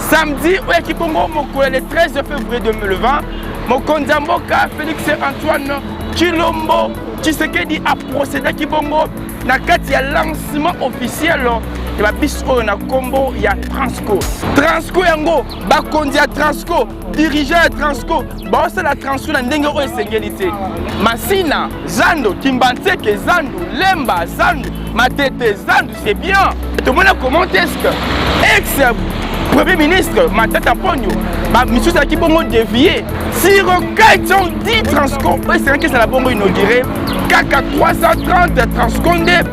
samedi oyo ya kibongo mokolo ya le 13 février 2020 mokonzi ya mboka félix antoine chilombo tshisekedi aprocedaki bongo na kati ya lancement officiel ya babisi oyo na nkombo ya transco transco yango bakonzi ya transco dirigeant ya transco baosala transco na ndenge oyo esengeli te masina zando kimbanseke zandu lemba zandu matete zandu c'est bien tomona comment est ce que ex premier ministre matata ponio misusu ezalaki bongo devie siro kaiton di transco oyo esengaki ezala bongo inaugure kaka 330 transco nde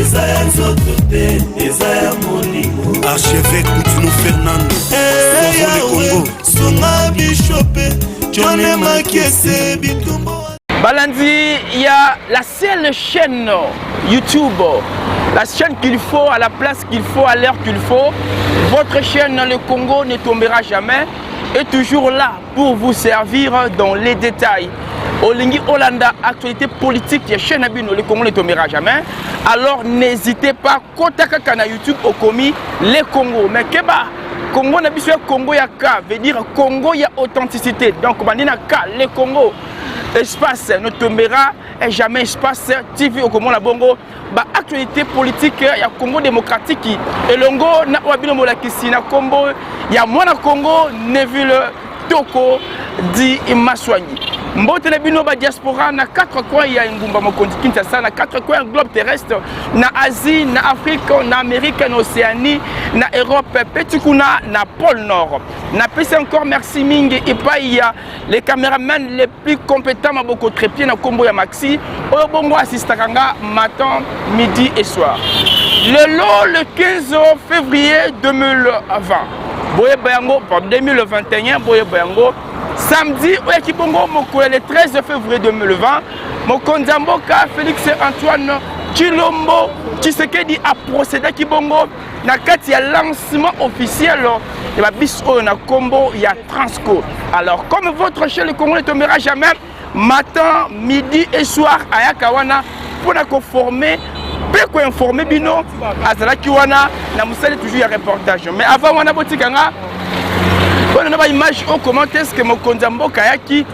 eza ya nzoto te eza ya molimo archeve kutino fernando eyawe sunga bishope jone makiese bitumbo balandi ya la seule chaîne youtube la chaîne qu'il faut à la place qu'il faut à l'heure qu'il faut votre chaîne le congo ne tombera jamais est toujours là pour vous servir dans les détails olingi olanda actualité politique ya chaîne na bino le congo ne tombera jamais alors n'hésitez pas kota kaka na youtube okomi le congo mais keba congo na biso ya congo ya ka veut dire congo ya authenticité donc bandi na ka le congo espace ne tombera jamais espace tv okomona bongo baactualité politique ya congo démocratique elongo na oyo bino molakisi na nkombo ya mwana congo neville toko di maswangi mbote na bino badiaspora na 4 coin ya engumba mokonzi kinshasa na 4 coin ya globe terrestre na asie na afrique na amérique na océanie na europe mpe ti kuna na pôle nord napesi encore merci mingi epai ya le cameraman le plus compétent maboko trepie na kombo ya maxi oyo bongo asistaka nga matin midi et soir lelo le 15 février 2020 boyeba yango 2021 boyeba yango samedi oyaki bongo mokolo ya le 13 février 2020 mokonzi ya mboka félix antoine tshilombo tshisekedi aprocedaki bongo na kati ya lancement officiel ya babisi oyo na nkombo ya transco alors comme votre chez le congo ne tombera jamais matin midi et soir ayaka wana mpo na koforme mpe koinforme bino azalaki wana na mosali toujours ya reportage mais avant wana botika nga mpona na baimage oyo comment est ce que mokonzi ya mboka ayaki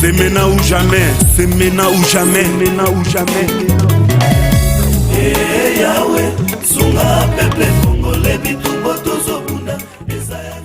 C'est maintenant ou jamais, c'est maintenant ou jamais, maintenant ou jamais. Hey eh, Yahweh, sunga peuple congolais bitumbo tozobunda eza ya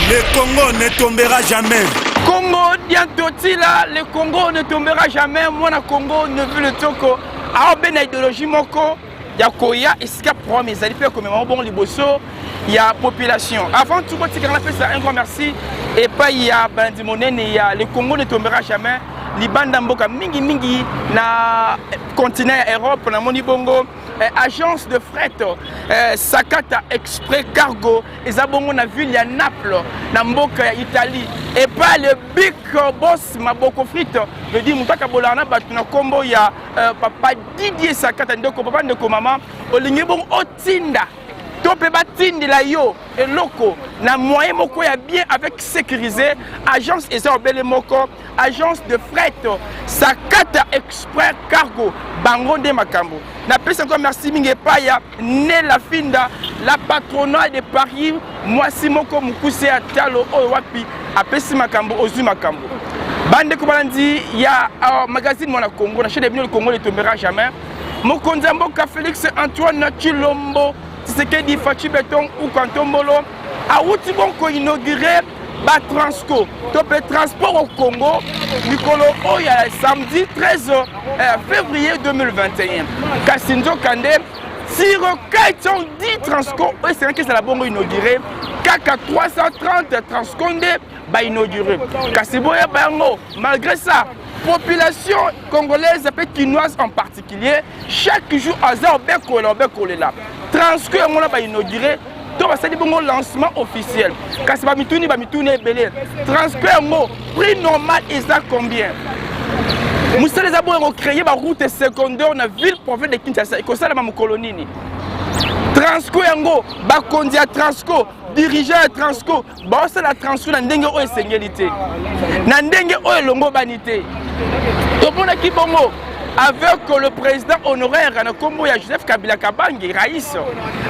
Le Congo ne tombera jamais. Congo diantotila, le Congo ne tombera jamais. Moi na Congo ne veut le toko. Alors ben idéologie moko ya koya esika programme ezali mpe komema mabongo liboso ya population avant tout botikaka napesa un grand merci epai ya balandi monene ya le congo ne tombera jamais libanda mboka mingimingi na continent ya europe namoni bongo eh, agence de fret eh, sakata exprès cargo eza bongo na ville ya naples na mboka ya italie epai le big boss maboko frite ledi moto akabolaka na bato na nkombo ya Euh, papa Didier Sakata ndeko papa ndeko mama olingi bongo otinda to mpe batindela yo eloko na moyen moko ya bien avec sécurisé agence eza obele moko agence de fret sakata exprès cargo bango nde makambo napesi encore merci mingi epai ya Nella Finda, la patrona de Paris, mwasi moko mokuse ya talo oyo wapi apesi makambo ozwi makambo. Bandeko balandi ya uh, magazine Mwana Congo na chaîne ya bino le Congo ne tombera jamais. Mokonzi ya mboka Felix Antoine Chilombo Tshisekedi Fatshi Beton Ukantombolo awuti bonko inaugure ba transco to mpe transport au congo mikolo oyo ya samedi 13 euh, février 2021 kasi nzoka nde sur 410 transco oyo esengaki ezala bongo inaugure kaka 330 transco nde bainaugure kasi boyeba yango malgré ça population congolaise mpe kinoise en particulier chaque jour aza obekolela obekolela transco yango na bainaugure to basali bongo lancement officiel kasi bamituni bamituni ebele transport yango prix normal eza combien mosala eza boyo kocreye baroute secondaire na ville province de kinshasa ekosalama mokolo nini transco yango bakonzi ya transco dirigeant ya transco baosala transfert na ndenge oyo esengeli te na ndenge oyo elongobani te tomonaki bongo avec le président honoraire na nkombo ya joseph kabila kabange rais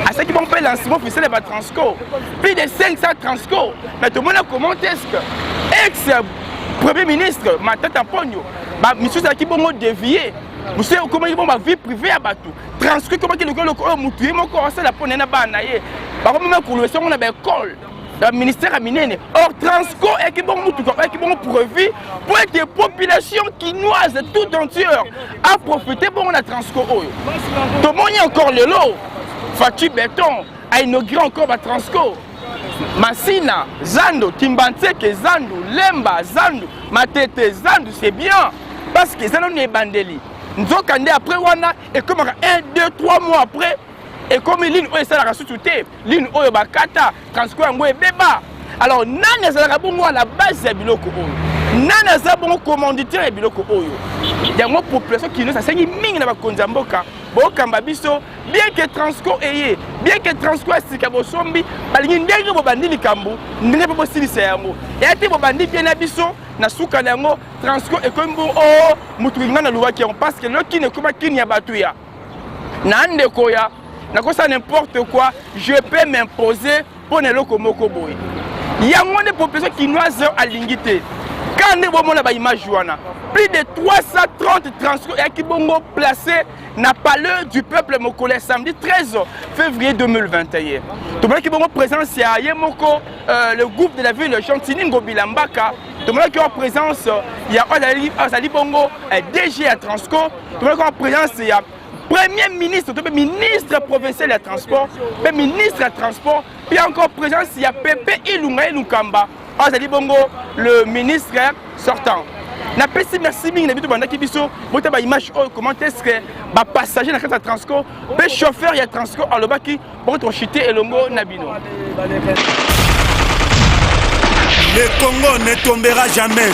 asalaki bango mpe lancement officiel ya batransco plus de 500 transco mais tomona comment est ce que ex premier ministre matata mponio misusu ezalaki bongo devie mosusu ekomaki bongo bavie privé ya bato transcrit ekomaki lokola eloko oyo motu ye moko asala mpo na ye na bana na ye bakomema kolobesa yango na baekole na ministère ya minene or transco eyaki bongo motuka oyaki bongo preuvi mpo ete population kinoise tout entière aprofite bongo na transco oyo tomoni encore lelo faci beton ainaugure encore batransco masina zando kimbanseke zandu lemba zandu matete zandu c'est bien parce que eza nano ebandeli nzoka nde après wana ekomaka 1 2 3 mois après ekomi ligne oyo esalaka susu te ligne oyo bakata transport yango ebeba alors nani azalaka bongo na base ya biloko oyo nani aza bongo commanditeur ya biloko oyo yango population kinois asengi mingi na bakonzi ya mboka bokamba biso bien ke transco eye bien ke transco ya sika bosombi balingi ndenge bobandi likambo ndenge mpe bosilisa yango eya te bobandi mpe na biso na suka na yango Transco ekomi mpo o oh, motu ngai nalobaki yango parce que loki nekoma kini ya bato ya na ndeko ya nakosala n'importe quoi je peux m'imposer mpo na eloko moko boye yango nde population kinoise alingi te kaka nde bomona baimage wana plus de 330 transport eyaki bongo place na palais du peuple mokolo ya samedi 13 février 2021 tomonaki bongo présence ya ye moko euh, le groupe de la ville gentini ngobila mbaka tomonaki en présence ya oyo azali bongo eh, dg ya transco tomonaki en présence ya premier ministre to mpe ministre provincial ya transport mpe ministre ya transport mpe encore présence ya pepe ilunga ye lukamba azali bongo le ministre sortant napesi merci mingi na bino tobandaki biso bota baimage oyo comment est ce que bapassager na kati ya transco mpe chauffeur ya transco alobaki Bon, to chute elongo na bino. Le Congo ne tombera jamais.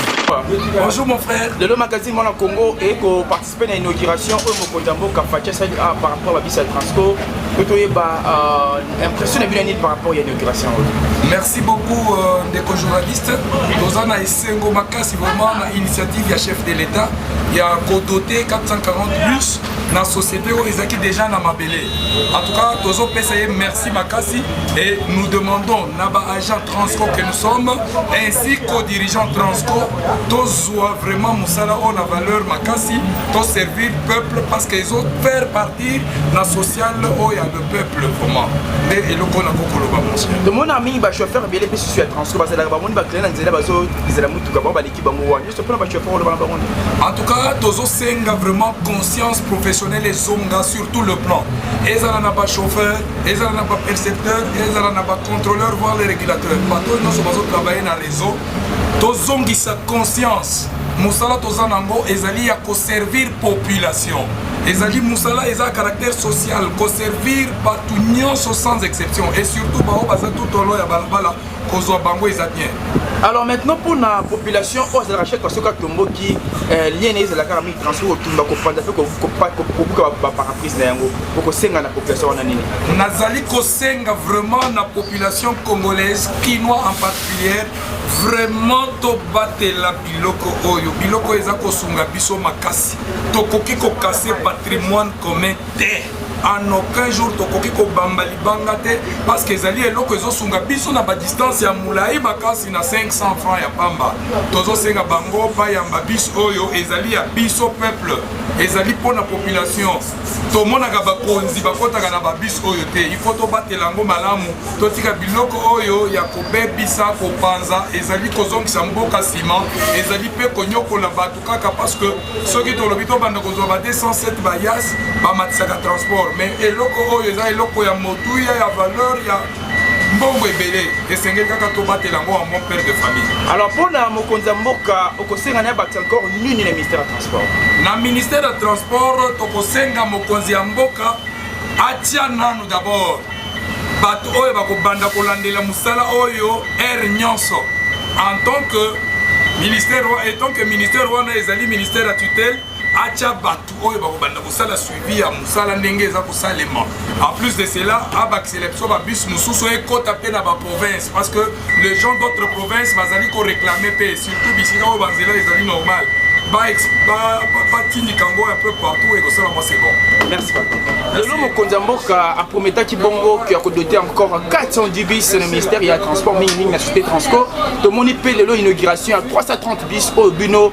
Bonjour mon frère. Le Lelo Magazine Mwana Congo et ko participer à l'inauguration au Mokonzi ya mboka Fatia Sali ah, par rapport à Bisa Transco. Mpo toyeba euh, impression na bino nini par rapport à l'inauguration Merci beaucoup euh, ndeko journaliste. Toza na esengo makasi vraiment na initiative ya chef de l'État ya ko doter 440 bus na société oyo ezalaki déjà na mabele en tout cas tozopesa ye merci makasi et nous demandons na baagent transco que nous sommes ainsi qu'au dirigeant transco tozwa vraiment mosala oyo na valeur makasi toservir peuple parce que ezo faire partir na social oyo ya le peuple vraiment nde eloko na kokoloba monsieur tomona mingi bachauffeur ebele mpe susu ya transco bazalaka bamoni bakele na nzela bazozela motuka bango baleki bango wana En tout cas, Tozo Senga vraiment conscience professionnelle et zonga sur tout le plan. Ezala na ba chauffeur, ezala na ba percepteur, ezala na ba contrôleur, voire les régulateurs. Bato nyonso bazo travailler na réseau. Tozongisa conscience. Mosala toza nango ezali ya ko servir population. ezali mosala eza caractère social koservir bato nyonso sans exception et surtout baoyo baza tutolo ya balabala kozwa bango eza bien alors maintenant mpo na population oyo azalaka chaque fois soki atomboki euh, lien na ye ezalaka na mingi transport kotumba kopanza mpe kobuka baparaprise na yango okosenga na population wana nini nazali kosenga vraiment na population congolaise kinois en particulier vraiment tobatela biloko oyo biloko eza kosunga biso makasi tokoki kokase patrimoine commun te en aucun jour tokoki kobamba libanga te parce que ezali eloko ezosunga biso na badistance ya molai makasi na 500 franc ya pamba tozosenga bango bayamba biso oyo ezali ya biso peuple ezali mpo na population tomonaka bakonzi bakotaka na babis oyo te ifo tobatela yango malamu totika biloko oyo ya kobebisa kopanza ezali kozongisa mboka nsima ezali mpe konyokola bato kaka parce que soki tolobi tobanda kozwa ba 207 bayas bamatisaka transport mais eloko oyo eza eloko ya motuya ya valeur ya mbongo ebele esengeli kaka tobatela yango en bon père de famille alors mpo na mokonzi ya mboka okosenga na bati encore nini na ministère ya transport na ministère ya transport tokosenga mokonzi ya mboka atia nanu d'abord bato oyo bakobanda kolandela mosala oyo ere nyonso en tant que ministère etant que ministère wana ezali ministère ya tutelle atya bato oyo bakobanda kosala suivi ya mosala ndenge eza kosalema en plus de cela abakisela biso babus mosusu ekota mpe na baprovince parce que les gens d'autres provinces bazali ko réclamer pe surtout bisika oyo banzela ezali normal batindika yango un peu partout ekosala mwa c'est bon merci lelo mokonzi ya mboka aprometaki bongo ke akodote encore 400 dbis na ministère ya transport mingimingi na société transco tomoni mpe lelo inauguration ya 330 bis oyo bino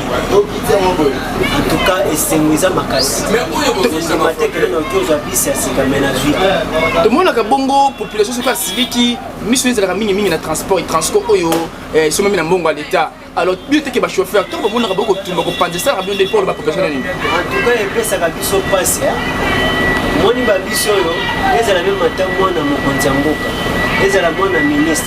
antuka esengo eza makasi ondima te kende noki ozwa bisi ya sika me na zwi tomonaka bongo population soki asiliki miso ezalaka mingimingi na transport transport oyo eh, esomami na mbongo ya leta alors bino teke bachauffeur ntango bamonaka bokotumba kopanza esalaka bino nde mpo oloba population na nini antuka epesaka biso mpasi moni babiso oyo ezala mpe mata mwana mokonzi ya mboka ezala mwana ministre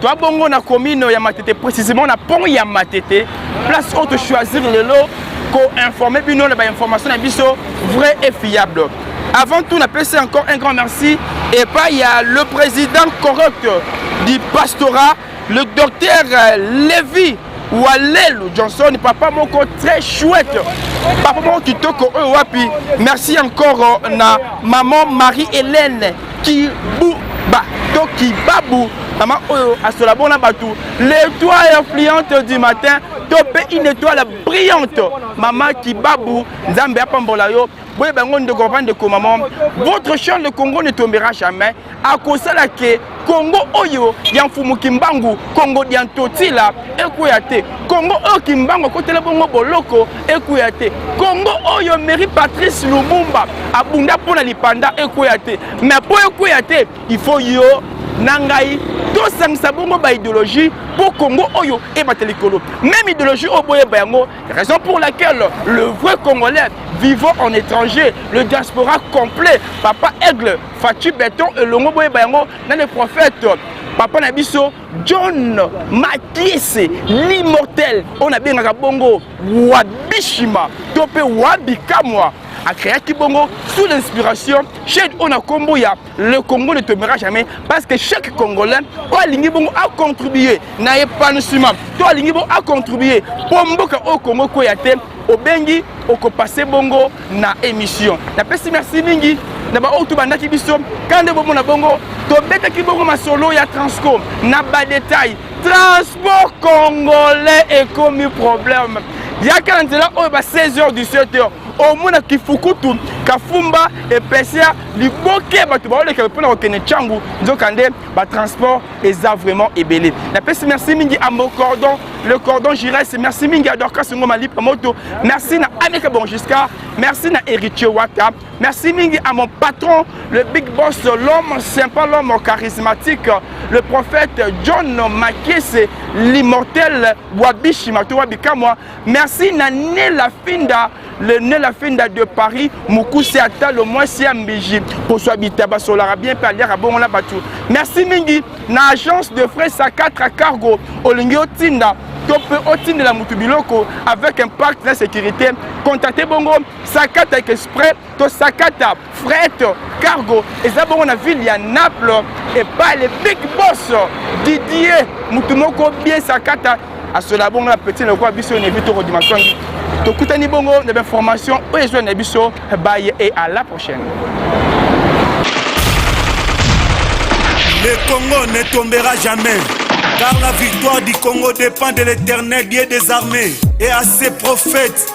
Toi bongo na commune ya Matete précisément na pont ya Matete place oyo tochoisir lelo koinforme bino na bainformation na biso vrai et fiable avant tout napesi encore un grand merci epai ya le président correct du pastorat le docteur levi walelu johnson papa moko très chouette papa moko kitoko oyo wapi merci encore na maman marie hélène kibuba to kibabu mama oyo asola bona bato l'étoile influente du matin to mpe une étoile brillante mama kibabu nzambe apambola yo boyeba yango ndeko papa ndeko mama votre chant le congo ne tombera jamais akosala ke kongo oyo ya mfumu kimbangu kongo dia ntotila ekweya te kongo oyo kimbangu akotela bongo boloko ekweya te kongo oyo mary patrice lumumba abunda mpo na lipanda ekweya te me mpo ekweya te ifo yo na ngai tosangisa bongo baideologie mpo kongo oyo ebata likolo meme ideologie oyo boyeba yango raison pour laquelle le vrai congolais vivant en étranger le diaspora complet papa aigle Fatshi Beton elongo boyeba yango na le prophète papa na biso John Makiese l'immortel oyo nabengaka bongo Wabishima to mpe Wabikamwa akreaki bongo sous l'inspiration chaine oyo na nkombo ya le congo ne tombera jamais parce que chaque congolais oyo alingi bongo acontribue na epanouissement to alingi bongo acontribue mpo mboka oyo congo ekweya te obengi okopase bongo na émission napesi merci mingi na baoyo tobandaki biso kaka nde bomona bongo tobetaki bongo masolo ya transco na badetail transport congolais ekomi problème yaka na nzela oyo ba 16 heures du 7 heures omona kifukutu kafumba epesa liboke bato baoleka mpo na kokende ntango nzokande ba transport eza vraiment ebele na pesi merci mingi à mon cordon le cordon giresse merci mingi à Dorcas Ngoma Lipa Moto merci na Aneka Bongisca merci na Héritier Wata merci mingi à mon patron le big boss l'homme sympa l'homme charismatique le prophète John Makese l'immortel Wabishi Matoa Bikamwa merci na Nela Finda le nez la fenda de paris mokuse ata lo mwasi ya mbiji koswa bitaba asolaka bien mpe aliaka bongo na bato merci mingi na agence de frais sa 4 cargo olingi otinda to mpe otindela moto biloko avec impact na sécurité contacte bongo sakata exprès tosakata fret cargo eza bongo na ville ya naples epai le big boss didie motu moko bien sakata asola bongo na petit lokola biso nebi tokodima songi tokutani bongo na bainformation oyo ezwa na biso baye e à la prochaine Le Congo ne tombera jamais, car la victoire du Congo dépend de l'éternel Dieu des armées et à ses prophètes.